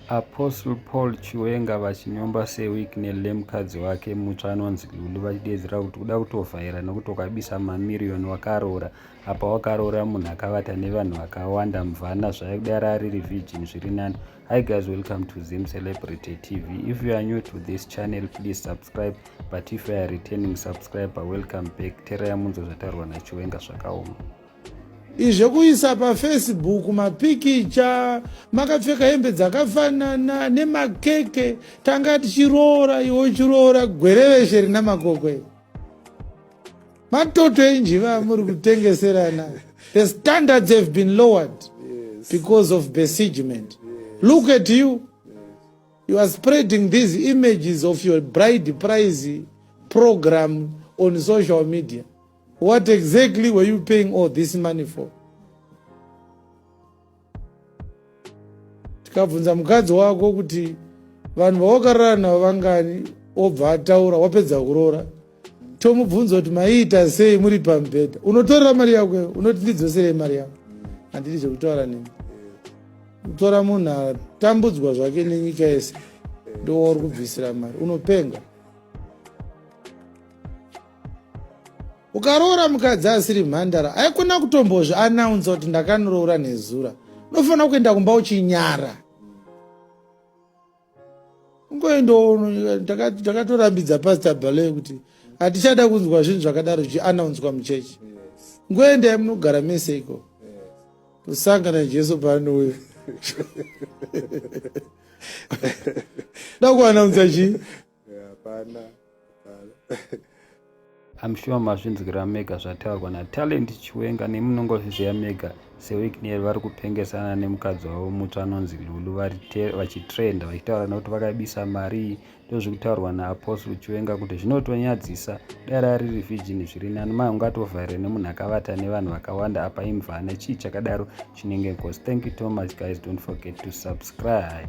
Apostle Paul Chiwenga vachinyomba Sir Wicknell nemukadzi wake mutsva anonzi Lulu vachideedzera kuti kuda kutovhaira nekuti ukabisa mamiriyoni wakaroora apa wakaroora munhu akavata nevanhu vakawanda mvana zvaidara ari revigin zviri nani hi guys welcome to zim celebrity tv if you are new to this channel please subscribe but if you are returning subscriber welcome back tereya munzo zvataurwa nachiwenga zvakaoma Izvekuisa pafacebook mapikicha makapfeka hembe dzakafanana nemakeke tanga tichiroora iwe uchiroora gwereveshe rina makokwe matoto enjiva amuri kutengeserana the standards have been lowered because of besiegement look at you you are spreading these images of your bride prize program on social media What exactly were you paying all this money for? Tikabvunza mukadzi wako kuti vanhu vawakarara navo vangani obva ataura wapedza kuroora tomubvunza kuti maiita sei muri pamubhedha unotorera mari yako unoti ndidzoserei mari yako handidi zvekutaura nemi kutora munhu atambudzwa zvake nenyika yese ndowauri kubvisira mari unopenga ukaroora mukadzi asiri mhandara aikona kutombozvi anaunza kuti ndakaniroora nezura unofanira kuenda kumba uchinyara ungoendaono ndakatorambidza pastor bale kuti hatichada kunzwa zvinhu zvakadaro zvichianaunzwa muchechi ngoendai munogara mese iko kusangana jesu paanouya da kuanaunza chii hapana hapana I'm sure mazvinzwira mega zvataurwa naTalent Chiwenga nemunongozviziva mega seWicknell vari kupengesana nemukadzi wavo mutsva anonzi Lulu vachitrenda vachitaura nekuti vakaibisa mari ndozvikutaurwa naApostle Chiwenga kuti zvinotonyadzisa dare ari revigini zviri nani mai ungatova here nemunhu akavata nevanhu vakawanda apa imvana chii chakadaro chinenge nkosi thank you so much guys don't forget to subscribe